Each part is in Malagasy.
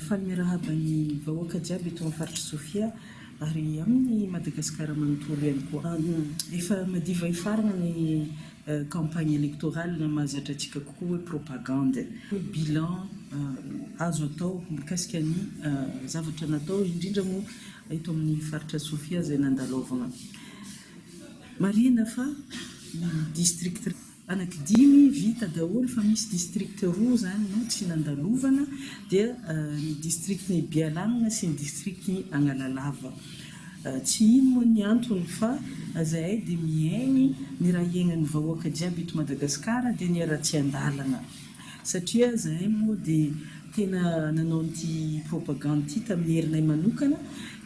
Faly miarahaba ny vahoaka jiaby eto amin'ny faritr'i Sofia ary amin'ny Madagasikara manontolo ihany koa. Efa madiva hifarana ny campagne électorale, mahazatra antsika kokoa hoe propagande. Bilan azo atao mikasika ny zavatra natao indrindra moa eto amin'ny faritra Sofia izay nandalaovana. Marihina fa ny district. anaky dimy vita daholo fa misy district roa izany no tsy nandalovana dia ny district ny Bialanina sy ny district ny Analalava tsy ino moa ny antony fa zahay dia mihaino ny raha hiaingan'ny vahoaka jiaby eto Madagascar dia ny aratsiandalana satria zahay moa dia tena nanao an'ity propagande ity tamin'ny herinay manokana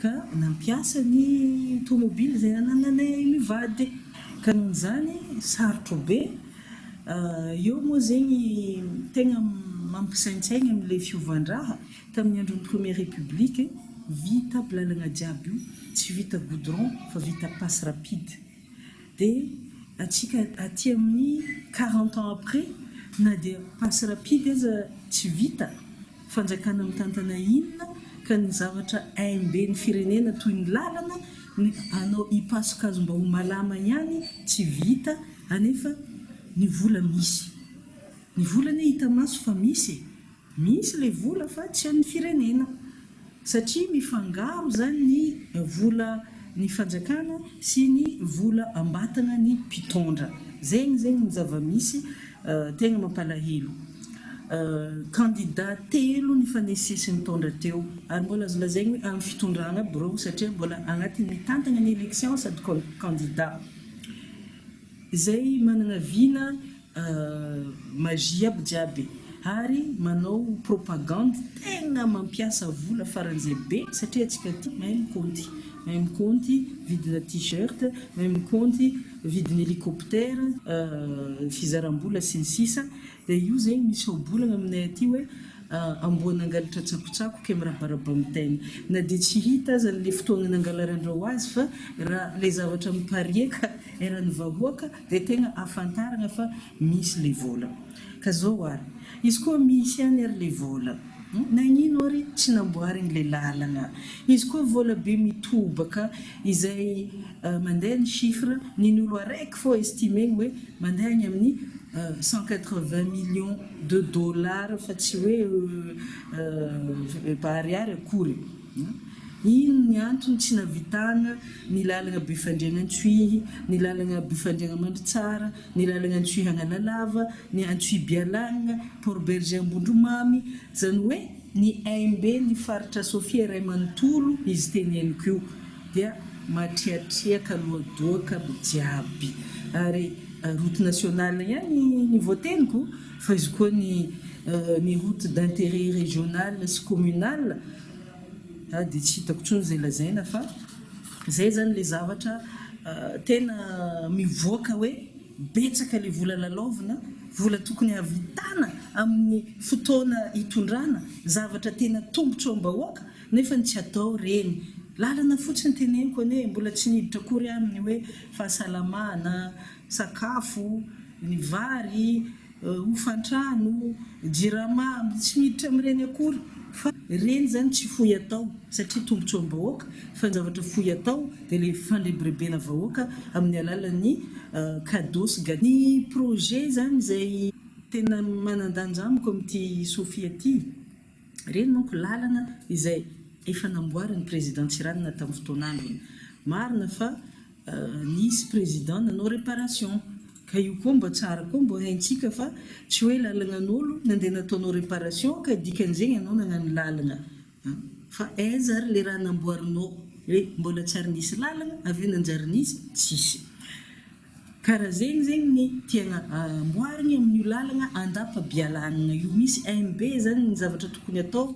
ka nampiasa ny tomobily izay anananay mivady Ka noho izany sarotro be. Eo moa zegny tegna mampisaintsaigny amle fiovan-draha. Tamin'ny andron'ny première république, vita aby lalagna jiaby io, tsy vita goudron fa vita passe rapide. Dia antsika aty amin'ny quarante ans après na dia passe rapide aza tsy vita, Fanjakana mitantana inona ka ny zavatra aim-be ny firenena toy ny lalana, ny hanao hipasoka azy mba ho malama ihany tsy vita anefa ny vola misy. Ny vola anie hita maso fa misy e! Misy ilay vola fa tsy an'ny firenena. satria mifangaro izany ny vola ny fanjakana sy ny vola ambatana ny mpitondra zegny zegny ny zava-misy tegna mampalahelo candidat telo nifanesisy ny taondra teo ary mbola azo lazaigny hoe amin'ny fitondrana aby reo satria mbola agnatin'ny mitantagna ny election sady candidat izay managna vina Magie aby jiaby e! Ary manao propagande tegna mampiasa vola faran'izay be satria antsika aty mahay mikaonty, mahay mikaonty vidina t-shirt, mahay mikaonty vidina hélicoptère, fizaram-bola sy ny sisa dia io zegny misy ohabolagna aminay aty hoe amboa nangalatra tsakotsako kay mirabaraba amin'ny tainy, na dia tsy hita aza an'ilay fotoagna nangalaran-dreo azy fa raha ilay zavatra mipariaka eran'ny vahoaka, Dia tegna afantaragna fa misy le vôla. Ka zao ary, izy koa misy ihany ary le vôla, nagnino ary tsy namboarigny le lalagna? Izy koa vôla be mitobaka izay mandeha ny chiffre nin'olo araiky fô estimegny hoe mandeha agny amin'ny cent quatre vingt millions de dollars fa tsy hoe efa ariary akory. Inn ny antony tsy navitana ny lalagna Befandriana-Antsohihy, ny lalagna Befandriana-Mandritsara, ny lalagna Antsohihy-Analalava, ny Antsohihy-Bialagna, Port Bergé Ambondromamy, zany hoe ny aim-b ny faritra Sofia iray manontolo izy teneniko io dia matriatriaka loadoaka aby jiaby ary route nationale ihany ny voateniko Fa izy koa ny ny route d'intérêt régional sy communal a dia tsy hitako intsony izay lazaina fa izay izany ilay zavatra tena mivoaka hoe betsaka ilay vola lalaovina, vola tokony hahavitana amin'ny fotoana hitondrana zavatra tena tombotro am-bahoaka nefa ny tsy atao ireny lalana fotsiny teneniko anie mbola tsy niditra akory aminy hoe fahasalamana, sakafo. ny vary, hofantrà no jirama tsy miditra amin'ireny akory fa ireny izany tsy fohy atao satria tombotsoam-bahoaka fa ny zavatra fohy atao dia ilay fandrebirebena vahoaka amin'ny alalan'ny cadeau sy gâteau. Ny projet izany izay tena manan-danja amiko amin'ity Sofia ity, ireny manko lalana izay efa namboarin'ny Président Tsiranana tamin'ny fotoan'androny. Marina fa. Nisy président nanao réparation ka io koa mba tsara koa mba haintsika fa tsy hoe lalagnan'olo nandeha nataonao réparation ka dikan'izay ianao nagnano lalagna an! Fa aiza ary le raha namboarinao hoe mbola tsy ary nisy lalagna avy eo nanjary nisy? Tsisy! Ka raha zegny zegny ny tiagna amboarigny amin'io lalagna andapa-bialagnagna io misy MB zany ny zavatra tokony atao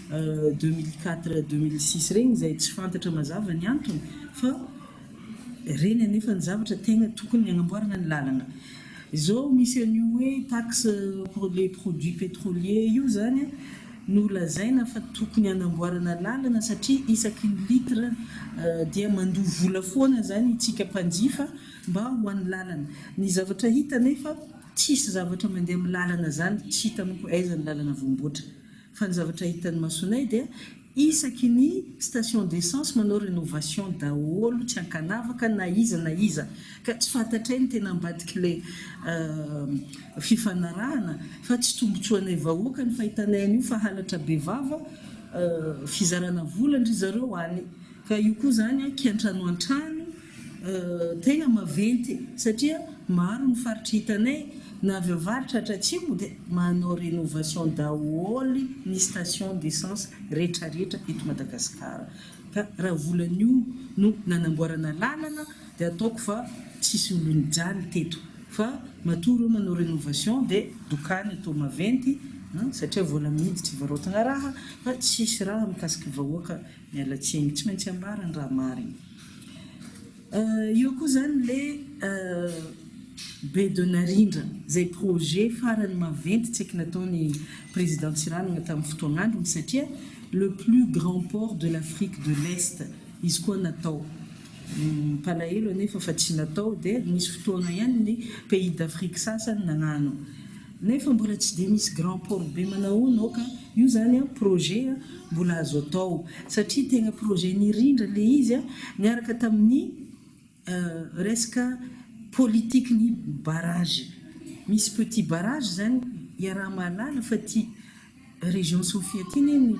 deux mille quatre deux mille six reny izay tsy fantatra mazava ny antony fa reny anefa ny zavatra tegna tokony hagnamboarana ny lalana izao misy an'io hoe taxe pour les produits pétroliers io zany no lazaina fa tokony hanamboarana lalana satria isaky ny litre dia mandoa vola foana zany itsika mpanjifa mba ho an'ny lalana ny zavatra hita anefa tsisy zavatra mandeha amin'ny lalana zany tsy hita manko aiza ny lalana voamboatra Fa ny zavatra hitan'ny masonay dia isaky ny station d'essence manao rénovation daholo tsy ankanavaka na iza na iza ka tsy fantatray ny tena ambadik'ilay fifanarahana fa tsy tombotsoanay vahoaka ny fahitanay an'io fa halatra bevava fizarana vola ndry zareo any ka io koa zany kiantranoantrano Tegna maventy e! Satria maro ny faritra hitanay na avy avaratra hatratsimo dia manao rénovation daholo ny station d'essence rehetra rehetra eto Madagasikara ka raha volan'io no nanamboarana lalana dia ataoko fa tsisy olonjany teto fa matoa reo manao rénovation dia dokany eto maventy satria vola mihidy tsy varaotina raha fa tsisy raha mikasiky vahoaka Miala tsiny, tsy maintsy ambara ny raha marina. Eo koa izany le be de narindra izay projet farany maventy tsaiky nataony Président Tsiranana tamin'ny fotoagnandrony satria le plus grand port de l'Afrique de l'Est izy koa natao. Mpalahelo anefa fa tsy natao dia nisy fotoagna ihany ny pays d'Afrique sasany nagnano. Nefa mbola tsy dia misy grand port be manahoana ao ka io zany an projet an mbola azo atao satria tegna projet nirindra le izy an niaraka tamin'ny resaka politique ny barrage misy petit barrage zany iaraha mahalala fa ty Région Sofia ty ne no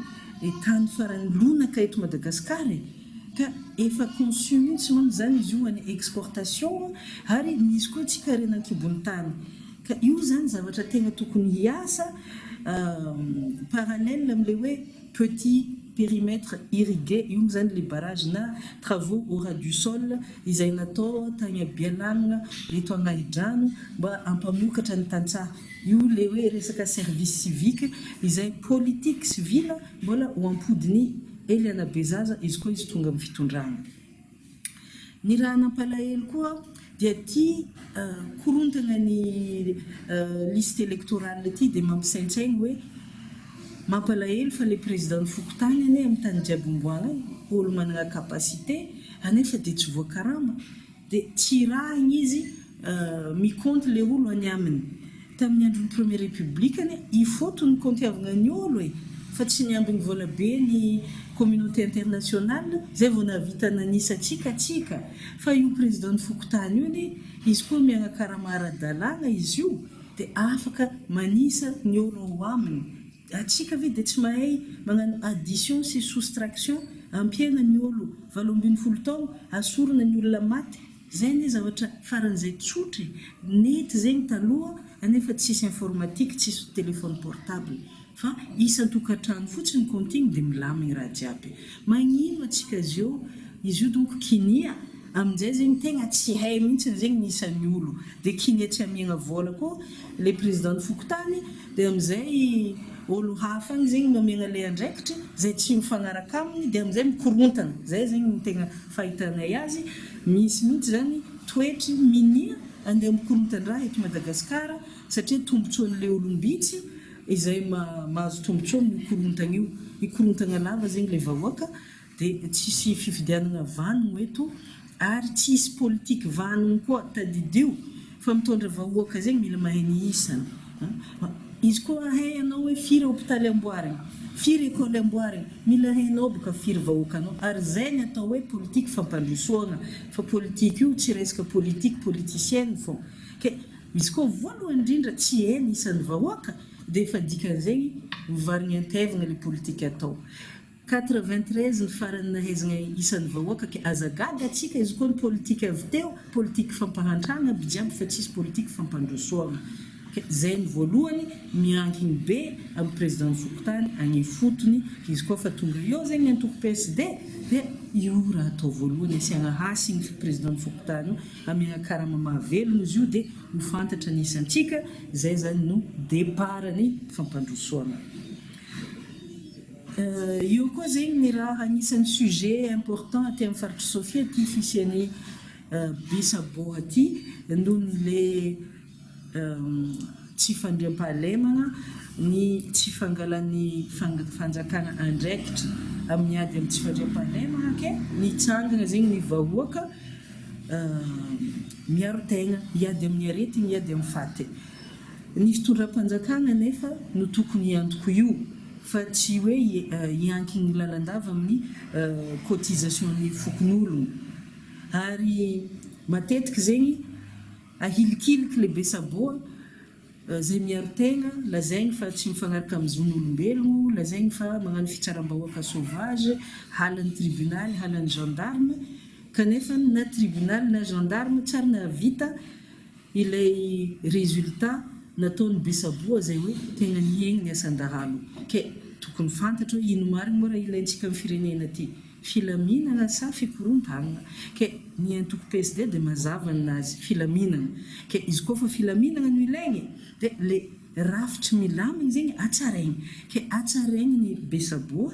tany farany lonaka eto Madagascar e! Ka efa conçu mintsy manko zany izy io ho an'ny exportation ary misy koa tsy karena ankibon'ny tany. Ka io zany zavatra tegna tokony hiasa parallèle amle hoe petit périmètre irrigué io mo zany le barrage na travaux au ras du sol izay natao tagny Bealagnona eto Agnahidrano mba hampamokatra ny tantsaha. Io le hoe resaka service civique izay politique civile mbola ho ampodiny ely anabezaza izy koa izy tonga amin'ny fitondrana. Ny raha nampalahelo koa dia ity korontana ny liste electorale ity dia mampisaintsaina hoe mampalahelo fa le président-n'ny fokontany anie amin'ny tany jiaby omboana io olo manana capacité anefa dia tsy voakarama. Dia tirahina izy mi compte le olo any aminy. Tamin'ny andron'ny première république anie i Foto no kontiavagna ny olo e! Fa tsy niambigny vola be ny communauté internationale zay vao nahavita nanisa antsika tsika. Fa io président ny fokontany io anie izy koa miagnakarama ara-dalàgna izy io dia afaka manisa ny olo ao aminy. Atsika ve dia tsy mahay magnano addition sy soustraction ampiaina ny olo valo ambin'ny folo taogno asorana ny olona maty zay anie zavatra faran'izay tsotra e nety zegny taloha anefa tsisy informatique tsisy telephone portable fa isan-tokantrano fotsiny compting dia milamigny raha jiaby magnino atsika zio izy io donko kinia aminjay zegny tegna tsy hay mintsiny zegny ny isan'ny olo dia kinia tsy amiagna vola koa le president ny fokontany Dia amin'izay olo hafa any zegny nomegna le andraikitry zay tsy mifagnaraka aminy dia amin'izay mikorontana. Zay zegny no tegna fahitanay azy. Misy mihitsy zany toetry minia andeha mikorontan-draha eto Madagascar satria tombotsoan'le olom-bitsy izay mahazo tombotsoa amin'io korontagna io. Mikorontagna lava zegny le vahoaka. dia tsy hisy fifidianana vanogno eto ary tsy hisy politique vanogno koa, tadidio fa mitondra vahoaka zegny mila mahay ny isany an! izy koa ahay anao hoe firy hopitaly amboarigny, firy école amboarigny, mila hainao boka firy vahoaka anao ary zay ny atao hoe politique fampandrosoagna fa politique io tsy resaka politique politicienne fô ke izy koa voalohany indrindra tsy hay ny isan'ny vahoaka dia efa dikan'izegny mivarigny an-taivagna le politique atao. Quatre-vingt-treize ny farany nahaizagna isan'ny vahoaka ka aza gaga atsika izy koa ny politique avy teo politique fampahantragna aby jiaby fa tsisy politique fampandrosoagna ka zay ny voalohany miankigny be am président ny fokontany agny ifotony ka izy koa fa tonga eo zegny ny antoko PSD dia io raha atao voalohany asiagna hasy igny fa président ny fokontany io amiagna karama mahavelogno izy io dia ho fantatra ny isantsika zay zany no départ ny fampandrosoagna. Io koa zegny ny raha agnisan'ny sujet important aty amin'ny faritr'i Sofia ty fisian'ny bus à bois ty noho ny le tsy fandriampahalemana, ny tsy fangalan'ny fanjakana andraikitra amin'ny ady amin'ny tsy fandriampahalemana ke mitsangana zegny ny vahoaka miaro tegna hiady amin'ny aretigny hiady amin'ny faty. Ny fitondram-panjakana anefa no tokony hiantoko io fa tsy hoe hiankin-ny lalandava amin'ny cotisation-ny fokonolona. Ary matetika zegny ahilikiliky le be saboa zay miaro tegna, lazaigny fa tsy mifagnaraka amin'ny zon'olombelo, lazaigny fa magnano fitsaram-bahoaka sauvage, halan'ny tribunaly, halan'ny gendarme, kanefa na tribunaly na gendarme tsary nahavita Ilay résultat nataon'i Besaboa izay hoe tena nihaino ny asan-dahalo. Kay tokony fantatro hoe ino marigny moa raha ilaintsika amin'ny firenena ty? Filaminana sa fikorontanana? Kay ny antoko PSD dia mazava ny nazy, filaminana. Kay izy koa fa filaminana no ilaigny dia le rafitry milamigny zegny hatsaraigny. Kay hatsaraigny ny Besaboa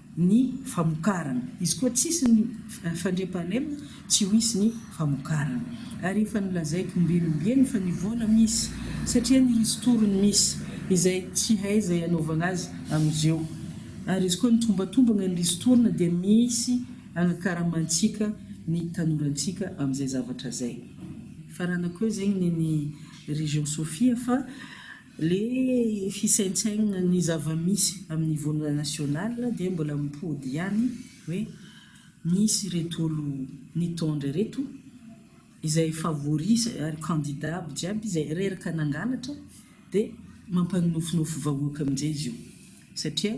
ny famokarana. Izy koa tsisy ny fandriampahalemana, tsy ho hisy ny famokarana. Ary efa nolazaiko ombieny ombieny fa ny vola misy, satria ny ristourne misy, izay tsy hay izay hanaovana azy amin'izeo. Ary izy koa nitombatombagna ny ristourne dia misy agnakaramantsika ny tanorantsika amin'izay zavatra izay. Faranako eo zegny ny ny Région Sofia fa. Ilay fisaintsainana ny zava-misy amin'ny niveau national dia mbola mipody ihany hoe misy ireto olo nitondra ireto izay favoris ary candidat aby jiaby izay reraka nangalatra dia mampanonofinofy vahoaka amin'izay izy io satria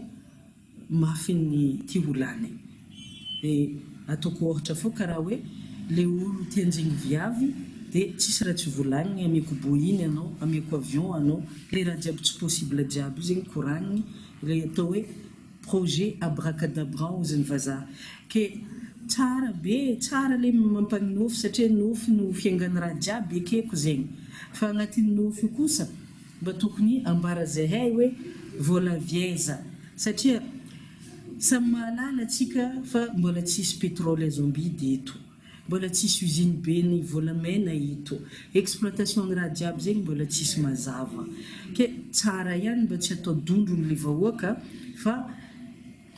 mafy ny ty ho lany de ataoko ohatra fô karaha hoe le olo te anjing viavy de tsisy raha tsy volagniny ameko boiny anao ameko avion anao le raha jiaby tsy possible jiaby io zegny koragniny le atao hoe projet abracadabran oziny vazaha ke tsara be e tsara le mampagnofy satria nofy no fiaingany raha jiaby ekeko zegny fa agnatin'ny nofy io kosa Mba tokony ambara zahay hoe vola vieza satria samy mahalala atsika fa mbola tsisy petrole azo ambidy eto, mbola tsisy usine be ny volamena eto, exploitation ny raha jiaby zegny mbola tsisy mazava, ke tsara ihany mba tsy atao dondrony le vahoaka fa.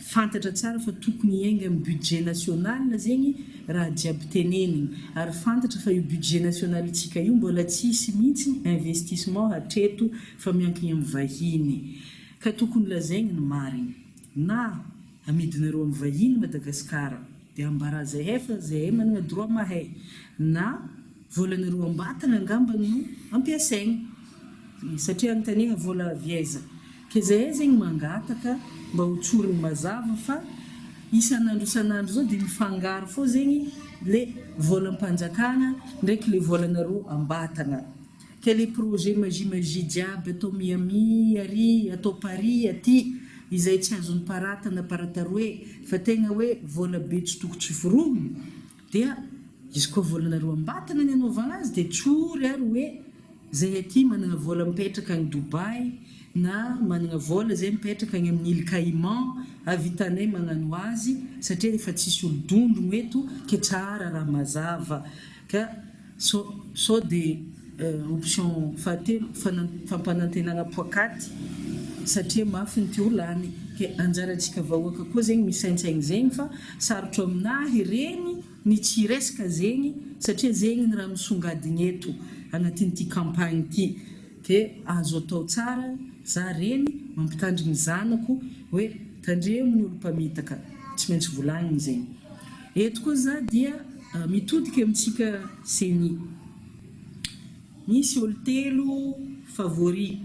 Fantatra tsara fa tokony hiainga amin'ny budget national zegny raha jiaby tenenigny, ary fantatra fa io budget national ntsika io mbola tsy hisy mihitsy investissement hatreto fa miankigny amin'ny vahiny. Ka tokony lazaigny ny marigny. Na amidinareo amin'ny vahiny Madagasikara, dia ambarazay hay fa zahay managna droit mahay. Na. Volana roa am-batana angamba no ampiasaina satria anontaniana vola avy aiza? Kezahay zegny mangataka mba ho tsoriny mazava fa isan'andro isan'andro zao de mifangaro fô zegny le volam-panjakana ndraiky le volana roa am-batana ke le projet magie magie jiaby atao Miami ary atao Paris aty izay tsy azon'ny parata na parata roe fa tegna hoe vola be tsy toko tsy forohogno Dia izy koa volana roa am-batana ny anaovana azy dia tsory ary hoe izay aty manana vola mipetraka any Dubai na manana vola izay mipetraka any amin'ny Îles Caïmans havitanay manano azy satria efa tsisy olo-dondrogno eto ke tsara raha mazava ka Sao dia option fahatelo, fampanantenana poakaty satria mafy ny teo lany. Ke anjarantsika vahoaka koa zegny misaintsaigny zegny fa sarotro aminahy regny ny tsy hiresaka zegny satria zegny ny raha misongadigny eto agnatin'ity campagne ity. Ke azo atao tsara, za reny mampitandrigny zanako hoe tandremo ny olo-mpamitaka, tsy maintsy volagniny zegny. Eto koa za dia mitodika amintsika ceni. Misy olo telo favori.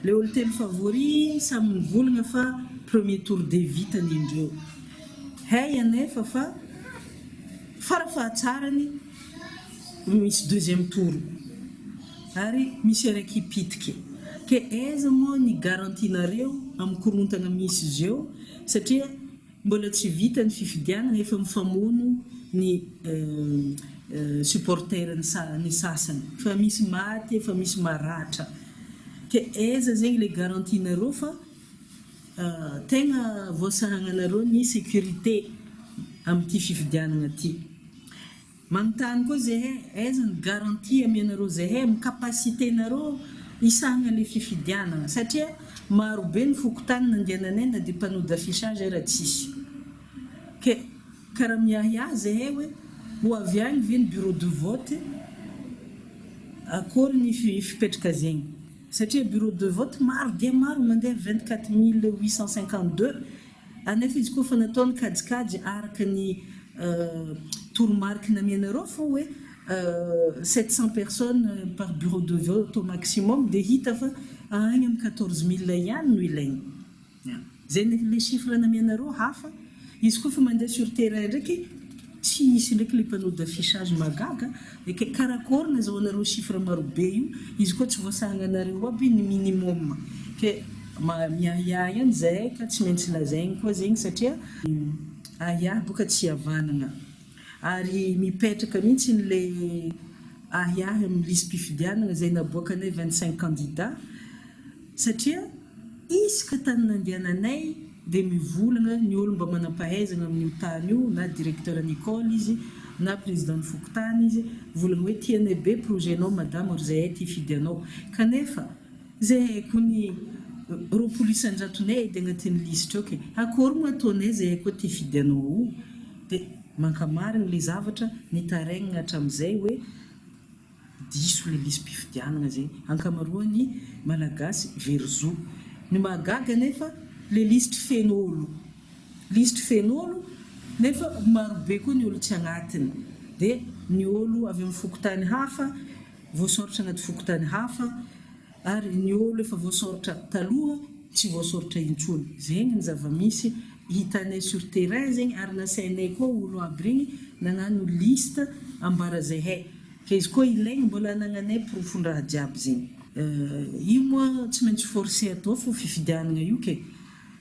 Le olo telo favori samy mivolagna fa premier tour de vitany indreo. Hay anefa fa fara fahatsarany misy deuxième tour ary misy araiky hipitiky. Ke aiza moa ny garantie nareo am korontagna misy zeo satria. Mbola tsy vita ny fifidianana efa mifamono ny supporter ny sasany fa misy maty efa misy maratra ke aiza zegny le garantie nareo fa tegna voasahagnanareo ny securite amty fifidianana ty. Manontany koa zehe, aiza ny garantie amenareo zehe amin'ny capacité nareo hisahana le fifidianana satria maro be ny fokontany nandehananay na dia panneau d'affichage ara tsisy ke ka raha miahiahy zehe hoe ho avy any ve ny bureau de vote akory ny fipetraka zegny satria bureau de vote maro dia maro mandeha vingt quatre mille huit cent cinquante deux Anefa izy koa efa natao ny kajikajy araka ny toromariky namianareo fa hoe sept cents personnes par bureau de vote au maximum dia hita fa any amin'ny quatorze mille ihany no ilaina. Izay ilay chiffre namianareo hafa. Izy koa efa mandeha sur terrain ndraiky. Tsy hisy ndraiky le panneau d'affichage mahagaga e, kay karakory nazahoanareo chiffre marobe io, izy koa tsy voasahagnanareo aby ny minimum, ke miahiahy any zahay ka tsy maintsy lazaigny koa zegny satria ahiahy boka tsy hiavanagna, ary mipetraka mintsy le ahiahy amin'ny lisi-pifidianagna zay naboakanay vingt cinq candidats, Satria isaka tany nandehananay dia mivolagna ny olo mba manampahaizagna amin io tany io na directeur ny ecole izy na président ny fokontany izy volagna hoe tianay be projet nao madama ry zahay ty fidy anao kanefa zay haiko ny roapolo isanjato nay edy agnatin lisitra eo ke akôry mo ataonay zahay koa ty fidy anao ao dia mankamarigny le zavatra nitaraigna hatramizay hoe diso le lisi-pifidianana zay ankamaroan'ny malagasy very zo. Ny mahagaga anefa le lisitry feno olo. Lisitry feno olo nefa marobe koa ny olo tsy agnatiny. De ny olo avy amin'ny fokontany hafa voasoritra anaty fokontany hafa Ary ny olo efa voasoritra taloha tsy voasoritra intsony. Zegny ny zavamisy hitanay sur terrain zegny ary nasainay koa olo aby regny nagnano liste ambara zehay. Ka izy koa ilaigny mbola anagnanay porofondraha jiaby zegny. Io moa tsy maintsy forcer atao fo fifidianagna io kay.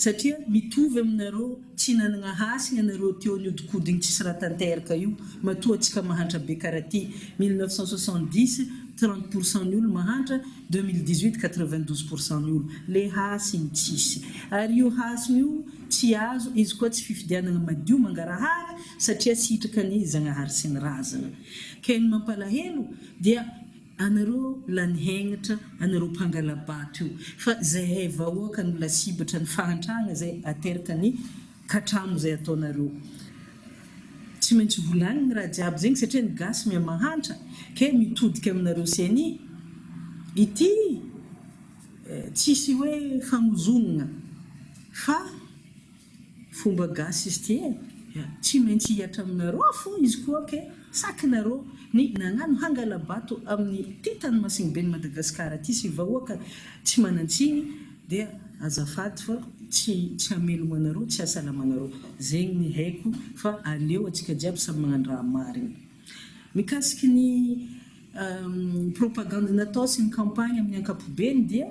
Satria mitovy aminareo tsy nanagna hasina nareo teo niodinkodiny tsisy raha tanteraka io matoa atsika mahantra be kara ty mille neuf cent soixante dix trente pour cent ny olo mahantra deux mille dix huit quatre vingt douze pour cent ny olo le hasiny tsisy ary io hasiny io tsy azo izy koa tsy fifidianagna madio mangarahara satria sitraka ny zagnahary sy ny razana ken mampalahelo dia Anareo lany hegnitra anareo mpangalabato io fa zahay vahoaka no lasibatra ny fahantrana zay ateraka ny katramo zay ataonareo tsy maintsy volaniny raha jiaby zegny satria ny gasy mia mahantra ke mitodika aminareo ceni ity tsisy hoe famozognona fa Fomba gasy izy ity e! Tsy maintsy hihatra aminareo aho fo izy koa ok! Saky nareo ny nagnano hangalabato amin'ny ty tany masiny ben'i Madagascar ty sy vahoaka tsy manantsiny dia azafady fa tsy tsy hamelogno anareo tsy hasalamanareo! Zegny ny haiko fa aleo atsika jiaby samy magnano raha marigny! Mikasiky ny propagandy natao sy ny campagne amin'ny ankapobeny dia.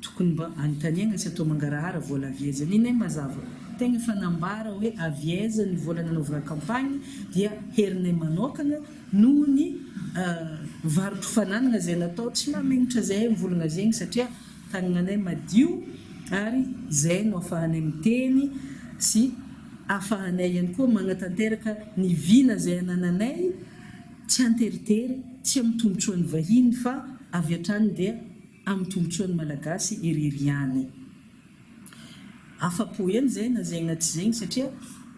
Tokony mba anontaniagna tsy atao mangarahara vola avy aiza. Nenay mazava tegna efa nambara hoe avy aiza ny vola nanaovana campagne dia herinay manokagna noho ny varotro fananagna zay natao tsy mamegnatra zahay mivolagna zegny satria tanagnanay madio ary zay no afahanay miteny sy afahanay ihany koa magnatanteraka ny vina zay anananay tsy anteritery tsy amy tombotsoany vahiny fa avy hatrany dia amin'ny tombotsoan'ny Malagasy irery ihany. Afa-po eny izay na zegny na tsy zegny satria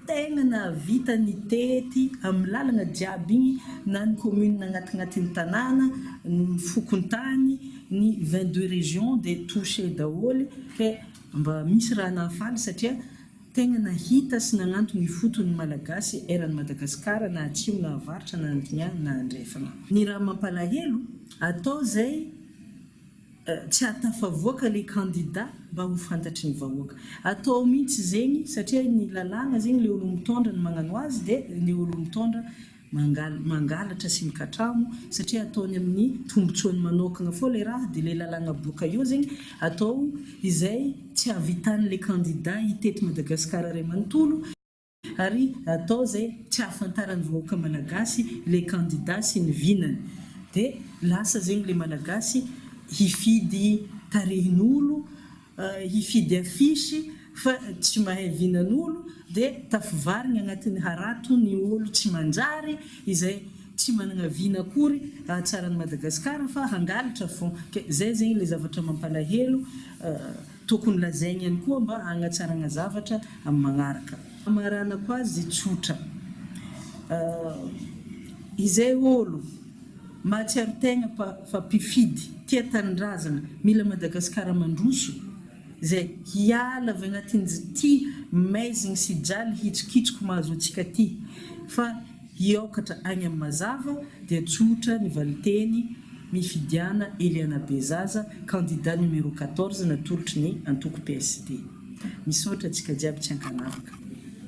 tegna nahavita nitety amin'ny lalagna jiaby igny na ny commune agnatignatiny tanàna, ny fokontany, ny vingt deux régions dia touchées daholo, ke mba misy raha nahafaly satria, Tegna nahita sy nagnantogny ifotony ny Malagasy eran'i Madagasikara na atsimo na avaratra na andignà na andrefagna. Ny raha mampalahelo, atao zay tsy ahatafavoaka le kandida mba ho fantatry ny vahoaka. Atao mintsy zegny satria ny lalàgna zegny le olo mitondra no magnano azy de ny olo mitondra mangalatra sy mikatramo satria ataony aminy tombotsoany manokana fô le raha de le lalagna boka eo zegny atao izay tsy avitan le kandida hitety Madagascar ray manontolo ary atao zay tsy ahafantaran vahoaka malagasy le kandida sy ny vinany de lasa zegny le malagasy hifidy tarehin olo hifidy affiche fa tsy mahay vinan'olo dia tafivarigny agnatin'ny harato ny olo tsy manjary izay tsy managna vina akory ahatsara an'i Madagascar fa hangalatra fon ke zay zegny ilay zavatra mampalahelo tokony lazaigny ihany koa mba hagnatsaragna zavatra amin'ny magnaraka. Hamaranako azy tsotra izay olo. Mahatsiaro tegna pa fa mpifidy tia tanindrazana mila Madagascar mandroso zay hiala avy agnatin'zty maizigny sy jaly hitsokitsiky mahazo antsika ty fa hiaokatra agny am mazava dia tsotra ny valinteny mifidiana Eliana Bezaza candidat numéro quatorze natolotry ny antoko PSD. Misaotra antsika jiaby tsy ankanavaka.